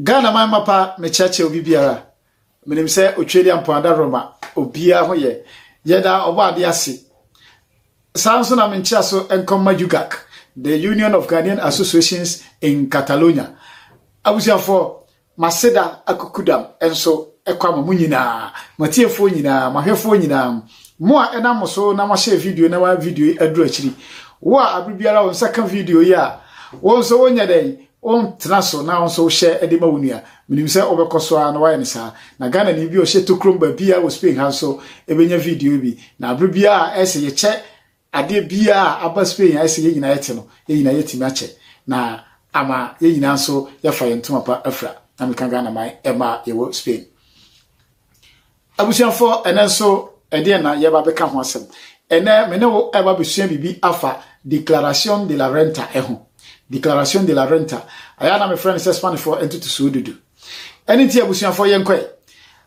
Ghana man mapa mekyerɛkyerɛ obi biara menim sɛ otweri ampoada roma obiara ho yɛ yɛda ɔbɔ ade ase saa nso na menkyerɛ so nkɔmma UGAC the Union of Ghanaian Associations in Catalonia abusuafoɔ M'aseda akukudam nso kɔ ama mo nyinaa, m'atiefoɔ nyinaa, m'ahwɛfoɔ nyinaa, mo a ɛnam mo so na moahyɛ video na ma video yi aduru akyiri. Wo a abere biara wo nsa ka video yi a, wo nso wonyɛ dɛn? Wontena so na wo nso wohyɛ de ma wo nua. Menim sɛ wobɛkɔ so ara na woayɛ no saa. Na Ghanani bi a ɔhyɛ Tokurom baabiara wɔ Spain ha nso bɛnya video yi bi. Na abere biara a ɛsɛ yɛkyɛ Adeɛ biara a aba Spain a ɛsɛ yɛn nyinaa yɛte no, yɛn nyinaa yɛatumi akyɛ na ama yɛn nyinaa nso yɛafa yɛn ntoma pa afira, na meka Ghana man mma a yɛwɔ Spain. Abusuafoɔ, ɛnɛ nso ɛdeɛn na yɛba bɛka ho asɛm? Ɛnɛ me ne wo ɛba bɛsua biribi afa Declaración de la Renta ɛho. Declaración de la Renta, ayɛ na mefrɛ no sɛ Spanishfoɔ ntotosoɔ dudu. Ɛne nti abusuafoɔ yɛnkɔɛ.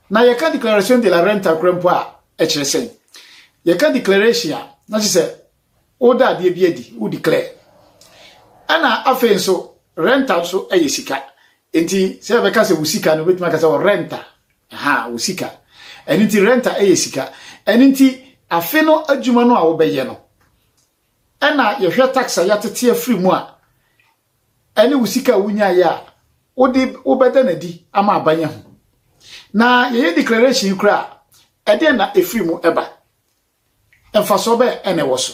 Na yɛka Declaración de la Renta kora mpo a, kyerɛ sɛn? Yɛka declaration a, na kyerɛ sɛ woda adeɛ bi adi, wo declare. Ɛna afei nso, renta nso yɛ sika. Nti sɛ yɛbɛka sɛ wo sika no, wobɛtumi aka sɛ ɔrenta. Ha, wo sika. Ɛno nti renta yɛ sika. Ɛno nti afe no adwuma no a wobɛyɛ no, ɛna yɛhwɛ tax a yɛatete afiri mu a, ne wo sika a wonyaeɛ a wode wobɛda no adi ama aban ahu. Na yɛyɛ declaration yi koraa a, ɛdeɛn na ɛfiri mu ɛba? Mfasoɔ bɛn ɛna ɛwɔ so?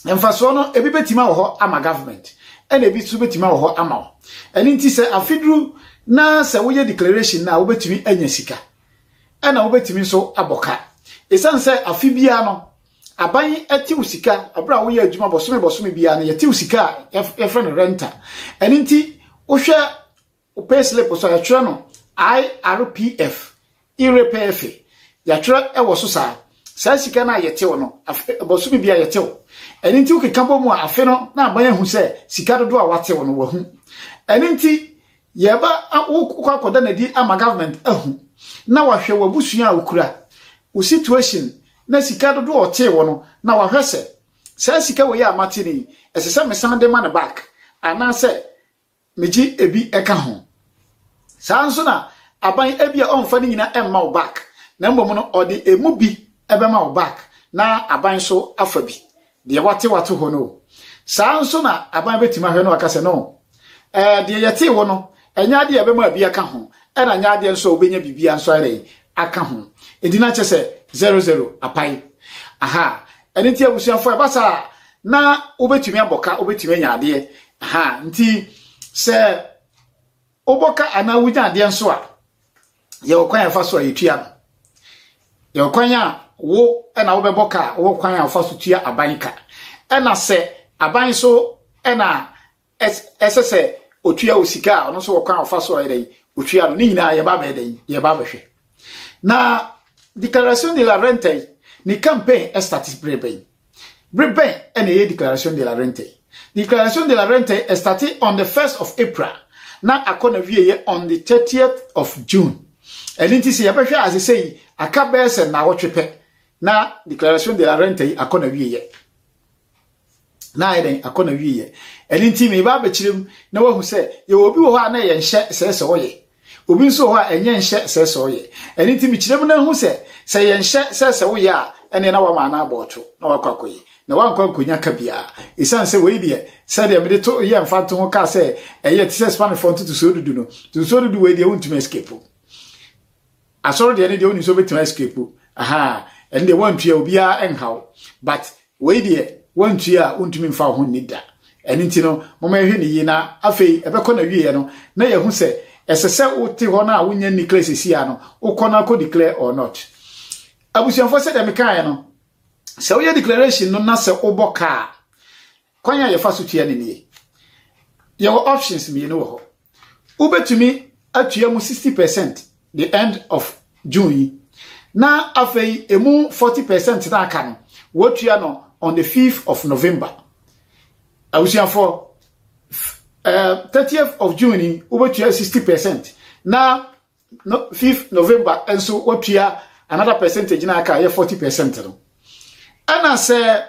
Mfasoɔ no, ebi bɛtumi awɔ hɔ ama government, ɛna ebi nso bɛtumi awɔ hɔ ama wo. Ɛno nti sɛ afiduru na sɛ woyɛ declaration no a, wobɛtumi anya sika, ɛna wobɛtumi nso abɔ ka. Ɛsiane sɛ afe biara no, Aban yi tew sika bere a woyɛ adwuma bɔsome bɔsome biara no yɛtew sika a yɛfrɛ no renta ɛno nti wohwɛ wo pay slip so a yɛtwerɛ no IRPF IRPF yɛtwerɛ ɛwɔ so saa saa sika no a yɛtew no bɔsome biara yɛtew ɛno nti wokeka bɔ mu a afe no na aban ahu sɛ sika dodoɔ a watew no wahu ɛno nti Yɛ ba a wo kɔ akɔda no adi ama government ahu na wahwɛ w'abusua a wokura, wo situation na sika dodoɔ a ɔtee wo no na wahwɛ sɛ saa sika wei a mate no yi ɛsɛ sɛ mesan de ma no back anaasɛ megye ebi ka ho. Saa nso na aban ebia ɔmfa ne nyina mma wo back na mmom no ɔde emu bi bɛma wo back na aban nso afa bi Deɛ wate wato hɔ no o. Saa nso na aban bɛtumi ahwɛ no aka sɛ no, ɛɛ deɛ yɛtee wo no, ɛnyɛ adeɛ a ɛbɛma bi aka ho, ɛna nyɛ adeɛ nso a wobɛnya biribiara nso ayɛ dɛ aka ho. Enti na kyɛ sɛ zero zero apae. Aha, ɛno nti abusuafoɔ ɛba saa a, na wobɛtumi abɔ ka, wobɛtumi anya adeɛ. Aha, nti sɛ wobɔ ka anaa wonya adeɛ nso a, yɛwɔ kwan a yɛfa so a yɛtua no. Yɛwɔ kwan a wo na wobɛbɔ ka, wɔ kwan a wofa so tua aban ka. Ɛna sɛ aban so ɛna ɛsɛ sɛ otua wo sika a ɔno nso wɔ kwan a wofa so a yɛdɛn otua no. Ne nyinaa yɛba bɛyɛ dɛn yɛba bɛhwɛ. Na Declaración de la Renta yi ne campaign ɛstati berɛ bɛn? Bere bɛn na ɛyɛ Declaración de la Renta yi? Declaración de la Renta yi ɛstate on the first of April na akɔ na wieɛ on the thirtieth of June. Ɛno nti sɛ yɛbɛhwɛ ase sɛ yi aka bɛyɛ sɛ naawɔtwe pɛ na Declaración de la Renta yi akɔ na wieɛ. Na ayɛ dɛn akɔ na wieɛ. Ɛno nti meba abɛkyerɛ mu na wahu sɛ yɛwɔ obi wɔ hɔ a na yɛnhyɛ sɛ sɛ ɔyɛ. Obi nso wɔ hɔ a ɛnyɛ nhyɛ sɛ sɛ ɔyɛ. Ɛno nti mekyerɛ mu na ahu sɛ, sɛ yɛnhyɛ sɛ sɛ woyɛ a, ɛnneɛ na woama anaa abɔ ɔtwo, na woakɔ akɔyɛ, na woankɔ ankonya ka biara. Esiane sɛ wei deɛ, sɛdeɛ mede to yɛɛ mfantoho kaa sɛ ɛyɛ te sɛ Spanishfoɔ ntotosoɔ dudu no, ntotosoɔ dudu wei deɛ wontumi escape mu. Asɔre deɛ ne deɛ wonim sɛ wobɛtumi escape aha ɛne deɛ woantua obiara nhaw but wei deɛ woantua a wontumi mfa wo ho nni da ɛne nti no moma yɛhwɛ ne yie na afei ɛbɛkɔ na wieɛ no na yɛhu sɛ ɛsɛ sɛ wote hɔ no a wonya nni kla sɛsi a no wokɔ no akɔ declare or not abusuafoɔ sɛ deɛ mekaeɛ no sɛ woyɛ declaration no na sɛ wobɔ kaa kwan a yɛfa so tua ne nie yɛwɔ options mmienu wɔ hɔ wobɛtumi atua mu 60 percent the end of June yi na afei emu 40 percent na aka no wɔtua no on the 5th of November abusuafoɔ uh, 30th of June yi wobɛtua 60 percent na no, 5th November nso wɔtua another percentage na aka yɛ 40 percent no ɛna sɛ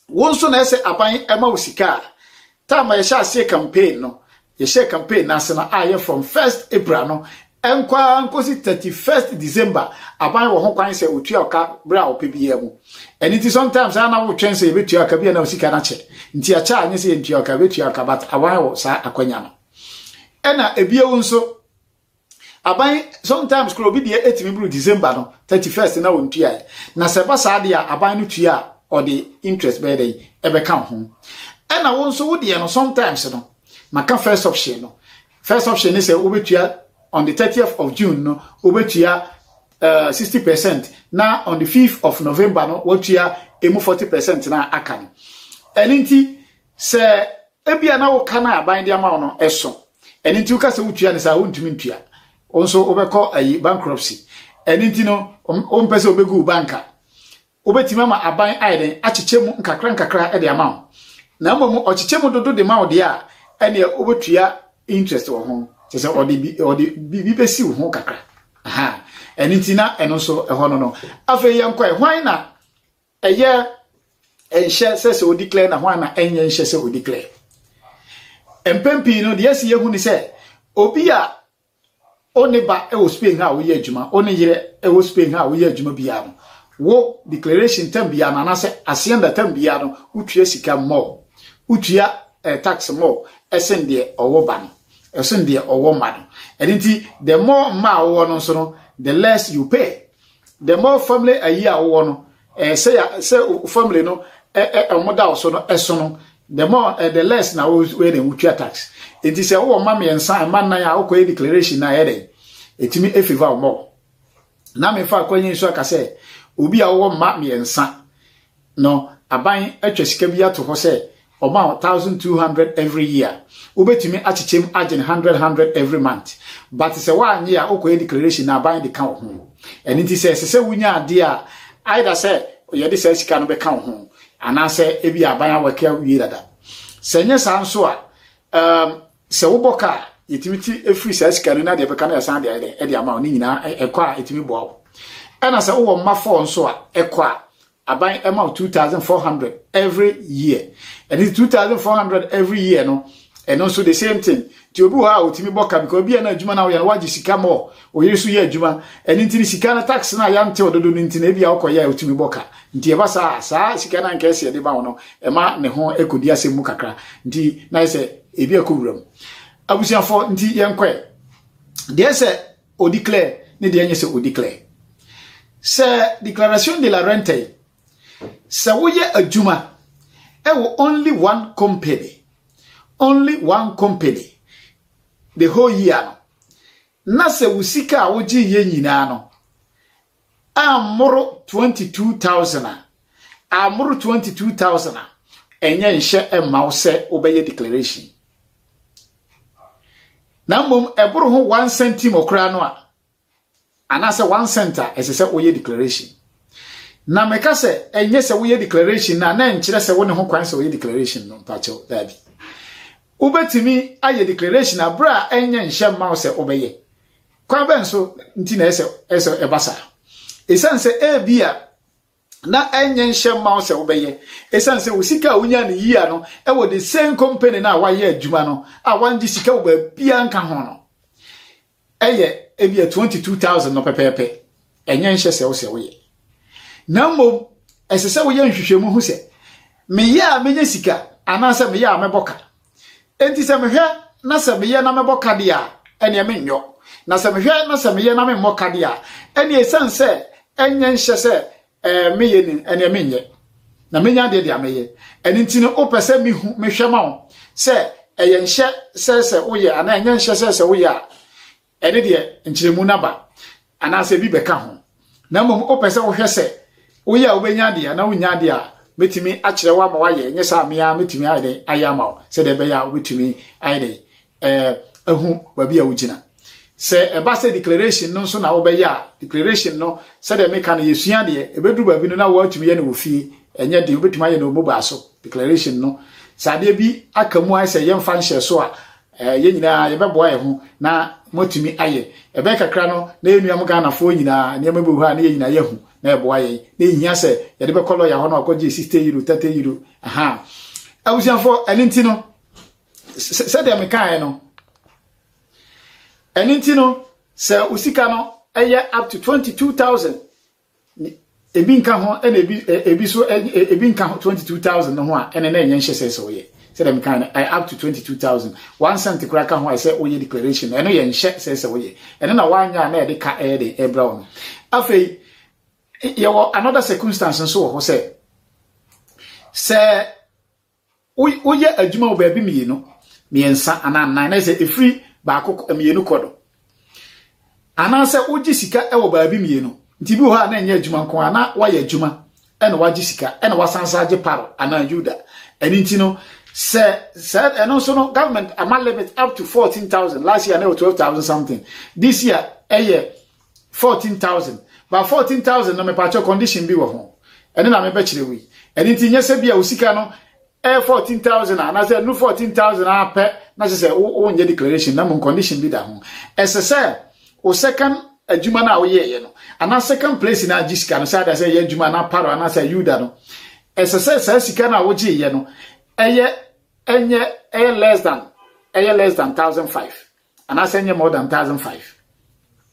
Wo nso na ɛsɛ aban ma wo sika a. Time a yɛhyɛ aseɛ campaign no, yɛhyɛ campaign no ase no ayɛ from first April no nkɔ ara nkɔsi 31st December. Aban wɔ ho kwan sɛ ɔtua ɔka berɛ a ɔpɛ biara mu. Ɛno nti sometimes a na wotwɛn sɛ yɛbɛtua ɔka bi a na wo sika no akyɛ. Nti akyɛ a nyɛ sɛ yɛntua ɔka, yɛbɛtua ɔka but aban wɔ saa akwanya no. Ɛna ebio nso. aban sometimes kora obi deɛ ɛtumi buru december no 31st na wɔntuaɛ na sɛ ɛba saa deɛ a aban no tua a ɔde interest bɛyɛ dɛn ɛbɛka ho ɛna wo nso wo deɛ no sometimes no maka first option no first option ne sɛ wobɛtua on the 30th of june no wobɛtua uh, 60 percent na on the 5th of november no wɔtua ɛmu 40 percent na aka no ɛno nti Sɛ ebia na wo ka no a ban de ama wo no ɛso, ɛno nti woka sɛ wotua no saa wontumi ntua, wo nso wobɛkɔ ayi bankruptcy. Ɛno nti no wompɛ sɛ wobɛgu wo banka. Wobɛtumi ama aban ayɛ dɛn akyekyɛ mu nkakra nkakra de ama wo. Na mmom ɔkyekyɛ mu dodo de ma wo deɛ a ɛneɛ wobɛtua interest wɔ ho kyɛ sɛ ɔde bi ɔde biribi bɛsi wo ho kakra. Aha. Ɛno nti na ɛno nso ɛhɔ no no. Afei yɛnkɔɛ hwan na Ɛyɛ nhyɛ sɛ sɛ odi klɛ na ho ana ɛnyɛ nhyɛ sɛ odi klɛ. Mpɛn pii no, deɛ ɛsi yɛ hu ni sɛ, obi a o ne ba wɔ Spain ha a woyɛ adwuma, o ne yere wɔ Spain ha a woyɛ adwuma biara no, wo declaration tam biara no, anaasɛ asienda tam biara no, wotua sika mmɔɔ, wotua eh, tax mmɔɔ, ɛsen deɛ ɔwɔ ba no, ɛsen deɛ ɔwɔ mma no. Ɛno nti, the more mma a wowɔ no nso no, the less you pay. The more family ayi a wowɔ no, eh, sɛ ya sɛ family no eh, eh, ɔmo da so no ɛso eh, no the more eh, the less na woyɛ dɛ wotua tax. Enti sɛ wowɔ mma mmiɛnsa mma nnan a wokɔyɛ declaration na ɛyɛ dɛ ɛtumi efiva ɔmɔ. Na mefa akwanyi nso aka sɛ obi a wowɔ mma mmiɛnsa No aban atwa sika bi ato hɔ sɛ ɔma wo thousand two hundred every year, wobɛtumi akyekyɛm agyen hundred hundred every month but sɛ woannye a wokɔyɛ declaration na aban de ka wo ho. Ɛno nti sɛ ɛsesɛ wonya adeɛ a either sɛ yɛde saa sika no bɛka wo ho anaasɛ ebia aban awake awie dada. Sɛ ɛnyɛ saa nso a, um, Sɛ wobɔ ka a, yɛtumi ti firi saa sika no na deɛ ɛbɛka no yɛsan de ayɛ dɛ ɛde ama wo ne nyinaa ɛkɔ a ɛtumi boa wo ɛna sɛ wowɔ mma fɔɔ nso a ɛkɔ a aban ɛma wo 2400 every year ɛne 2400 every year no ɛno nso the same thing nti obi wɔ hɔ a ɔtumi bɔ ka because obi a na adwuma no woyɛ no wagye sika mɔ Oyere so yɛ adwuma. Ɛno nti no sika no tax no a yɛantew dodo no nti no ebia wokɔyɛ a otumi bɔ ka. Nti ɛba saa a, saa sika no anka ɛsɛ yɛde ma wo no, ɛma ne ho kodi asɛm mu kakra. Nti na ayɛ sɛ ebi akɔ wuram. Abusuafo, nti yɛnkɔ ɛ. Deɛ ɛsɛ o declare ne deɛ ɛnyɛ sɛ o declare. Sɛ declaration de la renta yi, sɛ woyɛ adwuma ɛwɔ only one company, only one company, the whole year no, Na sɛ wo sika a wogyeeɛ nyinaa no ammoro twenty two thousand a, ammoro twenty two thousand a, ɛnyɛ nhyɛ mma wo sɛ wobɛyɛ declaration. Na mmom ɛboro ho one centimo koraa no a, anaasɛ one cent a, ɛsɛ sɛ woyɛ declaration. Na meka sɛ ɛnyɛ sɛ woyɛ declaration no a, na ɛnkyerɛ sɛ wo ne ho kwan sɛ woyɛ declaration no, mpakyɛw daabi. Wobɛtumi ayɛ declaration a berɛ a ɛnyɛ nhyɛ mma wo sɛ wobɛyɛ. Kwan bɛn so nti na ɛsɛ ɛsɛ ɛba saa? Ɛsiane sɛ ebi a na ɛnyɛ nhyɛ mma wo sɛ wobɛyɛ, ɛsiane sɛ wo sika a wonya no yia no ɛwɔ the same company no a wayɛ adwuma no a wangye sika wɔ baabiara nka ho no. yɛ ebia 22,000 no pɛpɛɛpɛ, ɛnyɛ nhyɛ sɛ wo sɛ woyɛ. Na mmom, ɛsɛ sɛ woyɛ nhwehwɛmu hu sɛ, meyɛ a menya sika anaasɛ meyɛ a mɛbɔ ka. Enti sɛ mehwɛ na sɛ meyɛ na mɛbɔ ka deɛ a, ɛneɛ menyɔ. Na sɛ mehwɛ na sɛ meyɛ na memmɔ ka deɛ a, ɛneɛ ɛsiane sɛ ɛnyɛ nhyɛ sɛ ɛɛ meyɛ ni ɛneɛ menyɛ na menya deɛ deɛ meyɛ ɛno nti no wopɛ sɛ mehu mehwɛ ma wo sɛ ɛyɛ nhyɛ sɛ sɛ woyɛ anaa ɛnyɛ nhyɛ sɛ sɛ woyɛ a ɛne deɛ nkyerɛmu no aba anaasɛ bi bɛka ho na mmom wopɛ sɛ wohwɛ sɛ woyɛ a wobɛnya deɛ anaa wonya deɛ a mɛtumi akyerɛ wo ama woayɛ ɛnyɛ sɛ amea mɛtumi ayɛ dɛn ayɛ ama wo sɛdeɛ ɛbɛyɛ a wobɛtumi ayɛ dɛn eh, ehu baabi a wogyina sɛ ɛba sɛ declaration no nso na wobɛyɛ a declaration no sɛdeɛ meka no yɛsua deɛ ɛbɛduru baabi no na wɔatumi yɛ no wɔ fie ɛnyɛ den wobɛtumi ayɛ no wɔ mobile so declaration no sɛ adeɛ bi aka mu ayɛ sɛ yɛmfa nhyɛ so a eh, yɛn nyinaa yɛbɛboa yɛn ho na moatumi ayɛ ɛbɛyɛ kakra no na yɛnua m ghanafoɔ nyinaa nneɛma bi wɔ hɔ a na yɛn nyinaa yɛahu na ɛboa yɛn na ɛhia sɛ yɛde bɛkɔ lɔya hɔ no akɔgye 60 euro 30 euro aha abusuafoɔ ɛno nti no sɛdeɛ mekaeɛ no ɛno nti no sɛ wo sika no ɛyɛ up to 22000 ebi nka ho ɛna ebi ebi so ebi nka ho 22000 no ho a ɛna na ɛnyɛ nhyɛ sɛ sɛ woyɛ sɛdeɛ mekaeɛ no ɛyɛ up to 22000 one cent koraa ka ho a ɛsɛ woyɛ declaration ɛno yɛ nhyɛ sɛ sɛ woyɛ ɛno na woanyɛ a na ɛde ka ɛyɛ de ɛbrɛ wo no afei yɛwɔ another circumstance nso wɔ hɔ sɛ sɛ woyɛ adwuma wɔ baabi mmienu mmiɛnsa anaa nnan na sɛ ɛfiri baako mmienu kɔ do anaasɛ wogye sika wɔ baabi mmienu nti bi wɔ hɔ a na ɛnyɛ adwuma nko a na woayɛ adwuma ɛna wagye sika ɛna wasan sa agye paro anaa yuda ɛno nti no sɛ sɛ ɛno nso no government ama limit up to fourteen thousand last year na ɛwɔ twelve thousand something this year ɛyɛ fourteen thousand ba fourteen thousand no mepaakyɛ condition bi wɔ ho ɛne na mebɛkyerɛ wei ɛne nti nyɛ sɛ bi a wo sika no ɛyɛ eh, fourteen thousand a anaasɛ ɛnu fourteen thousand a pɛ na kyerɛ sɛ wonyɛ declaration na mu condition bi da ho ɛsɛ sɛ o second adwuma no a woyɛɛyɛ no anaa second place no agye sika no sɛ ada sɛ ɛyɛ adwuma anaa paro anaasɛ yuda no ɛsɛ sɛ saa sika no a wogyeeɛ no ɛyɛ ɛnyɛ ɛyɛ less than ɛyɛ less than thousand five anaasɛ ɛnyɛ more than thousand five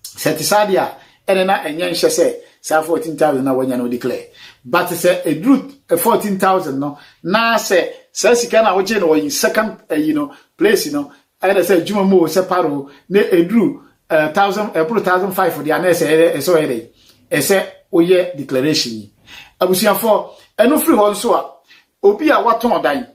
sɛ ɛte saa deɛ a ɛne na ɛnyɛ nhyɛ sɛ saa fourteen thousand na wanya no declare but sɛ ɛduru eh, fourteen thousand no na sɛ saa sika no a wogye no wɔ second ɛyi eh, no place no ɛna sɛ adwuma mu o sɛ paro na ɛduru eh, thousand ɛboro thousand five deɛ ana ɛsɛ ɛyɛ ɛsɛ ɔyɛ dɛ ɛsɛ woyɛ declaration yi abusuafoɔ ɛno firi hɔ nso a obi a watɔn dan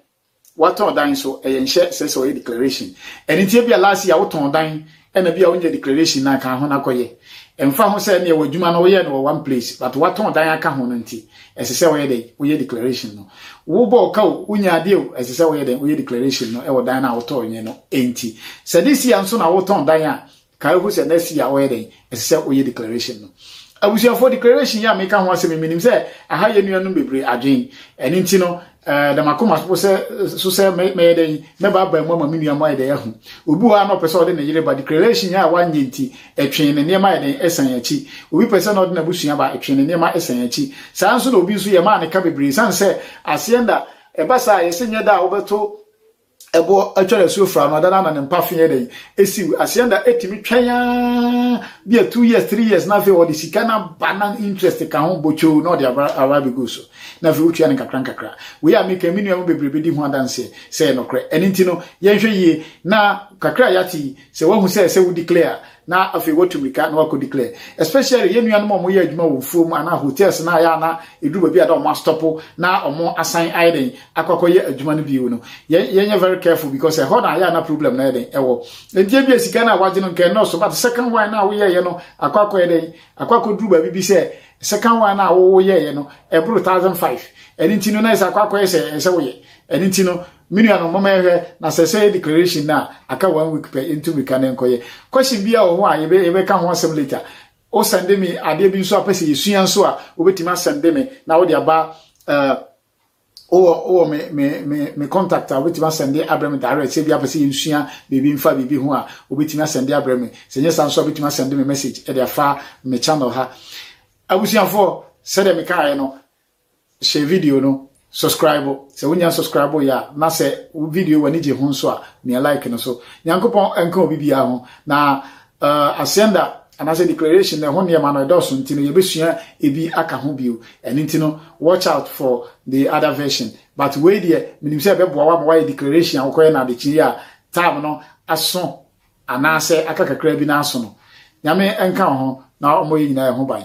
Watɔn dan nso ɛyɛ nhyɛ ɛsɛ sɛ ɔyɛ declaration. Ɛno nti ebia last year wotɔn dan ɛna bi a wonyɛ declaration na kan ho na kɔyɛ. Ɛmfa ho sɛ ɛneɛ wɔ adwuma no woyɛ no wɔ one place but watɔn dan aka ho no nti ɛsɛ sɛ ɔyɛ dɛn woyɛ declaration no. Wobɔ ɔka o, wonya adeɛ o, ɛsɛ sɛ woyɛ dɛn woyɛ declaration no ɛwɔ dan no a wotɔn yɛ no nti. Sɛ this year nso na wotɔn dan a Kae hu sɛ next year ɔyɛ dɛn? Ɛsɛ sɛ ɔyɛ declaration no. Abusuafoɔ declaration yi a meka ho asɛm yi menim sɛ aha yɛ nuanom bebree adwen. Ɛno nti no ɛɛ dama koma so sɛ so sɛ mɛyɛ dɛn mɛba aba mu ama me nua mu ayɛ dɛn ahu. Obi wɔ a na ɔpɛ sɛ ɔde ne yere ba declaration a wanyɛ nti ɛtwee ne nneɛma ayɛ dɛn ɛsan akyi. Obi pɛ sɛ na ɔde n'abusua ba ɛtwee ne nneɛma ɛsan akyi. Saa nso na obi nso yɛ maa ne ka bebree sane sɛ aseɛ nda ɛba saa yɛsɛ nyɛ da a wobɛto ɛboɔ atwa asuo fra no adana na ne mpafe yɛ dɛn esiw asianda etumi twɛn aa bi a two years three years na afei ɔde sika na ba na interest ka ho bɔtwoo na ɔde aba aba abegu so na afei wotua ne nkakra nkakra wei a meka me nua mu bebree bedi ho adanseɛ sɛ ɛyɛ nɔkorɛ ɛno nti no yɛnhwɛ yie na kakra a yɛate yi sɛ wahu sɛ sɛ wo declare na afei watu mirika na wakɔ declare especially yɛn nuanom a wɔyɛ adwuma wɔ mfuom anaa hotels na ayɛ ana ɛduru baabi a da wɔn astɔpo na wɔn asan ayɛ den akɔkɔyɛ adwuma no bio no yɛn yɛnyɛ very careful because ɛhɔ na ayɛ ana problem na ayɛ den ɛwɔ nti ebi sika no a wagye no nkɛn nɔɔso but second one na woyɛɛyɛ no akɔ akɔyɛ den akɔ akɔduru baabi bi sɛ second one na woyɛɛyɛ no ɛboro thousand five ɛno nti no na ɛsɛ akɔ akɔyɛ sɛ ɛsɛ woyɛ ɛno nti no Me nuanom, momma yɛhwɛ na sɛ sɛ yɛ declaration no a, aka one week pɛ, yɛntu mmirika na nkɔyɛ. Question bi a wɔ ho a yɛbɛ yɛbɛka ho asɛm later. O sɛnde me adeɛ bi nso a pɛ sɛ yɛsua nso a, wobɛtumi asɛnde me na wode aba uh, wowɔ wowɔ me me me me contact a wobɛtumi asɛnde abrɛ me direct sɛ bi apɛ sɛ yɛnsua biribi mfa biribi ho a wobɛtumi asɛnde abrɛ me sɛ nyɛ saa nso a wobɛtumi asɛnde me message ɛde afa me channel ha abusuafoɔ sɛdeɛ mekaeɛ no Hyɛ video no Subscribe sɛ wonya subscribe yɛ a na sɛ wo video w'ani gye ho nso a mia like no so Nyankopɔn nka obi biara ho na uh, asɛnda anaasɛ declaration na ɛho nneɛma no ɛdɔɔso nti no yɛbɛsua ebi aka ho bio ɛno nti no watch out for the other version but wei deɛ menim sɛ ɛbɛboa wo ama woayɛ declaration a wokɔyɛ no adekye a time no aso anaasɛ aka kakra bi no aso no nyame nka ho na ɔmmɔ yɛ nyinaa ɛho ban